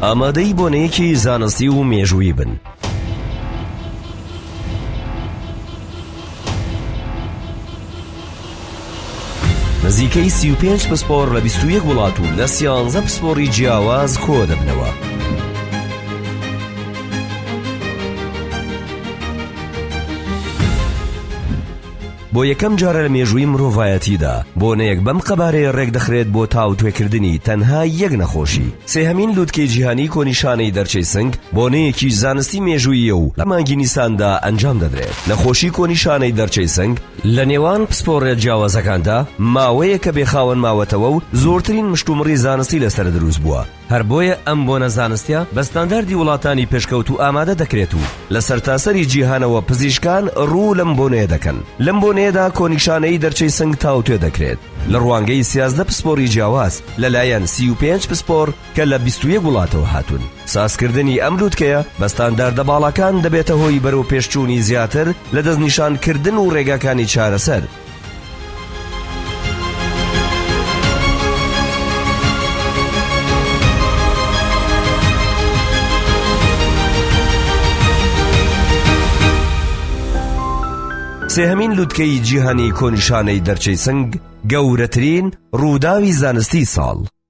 ئامادەی بۆنەیەکی زانستی و مێژووی بن. نزیکەی 35 پسپۆر لە 21 وڵات و لە سیانزە پسپۆری جیاواز کۆ دەبنەوە. بۆ یەکەم جارە لە مێژووی مرۆڤایەتیدا، بۆنەیەک بەم قەبارەیە ڕێکدەخرێت بۆ تاوتوێکردنی تەنها یەک نەخۆشی. سێهەمین لووتکەی جیهانیی کۆنیشانەی دەرچەی سنگ، بۆنەیەکی زانستی مێژووییە و لە مانگی نیساندا ئەنجام دەدرێت. نەخۆشی کۆنیشانەی دەرچەی سنگ، لە نێوان پسپۆڕە جیاوازەکاندا ماوەیەکە بێخاوەن ماوەتەوە و زۆرترین مشتومڕی زانستی لەسەر دروست بووە. هەر بۆیە ئەم بۆنە زانستیە بە ستانداردی وڵاتانی پێشکەوتوو ئامادە دەکرێت و لە سەرتاسەری جیهانەوە پزیشکان ڕوو لەم بۆنەیە دەکەن لەم بۆنەیەدا کۆنیشانەی دەرچەی سنگ تاوتوێ دەکرێت لە ڕوانگەی سیازدە پسپۆری جیاواز لەلایەن سی و پێنج پسپۆر کە لە بیست و یەک وڵاتەوە هاتوون سازکردنی ئەم لووتکەیە بە ستانداردە باڵاکان دەبێتە هۆی بەرەوپێشچوونی زیاتر لە دەستنیشانکردن و ڕێگاکانی چارەسەر سێهەمین لوتکەی جیهانی کۆنیشانەی دەرچەی سنگ گەورەترین ڕووداوی زانستی ساڵ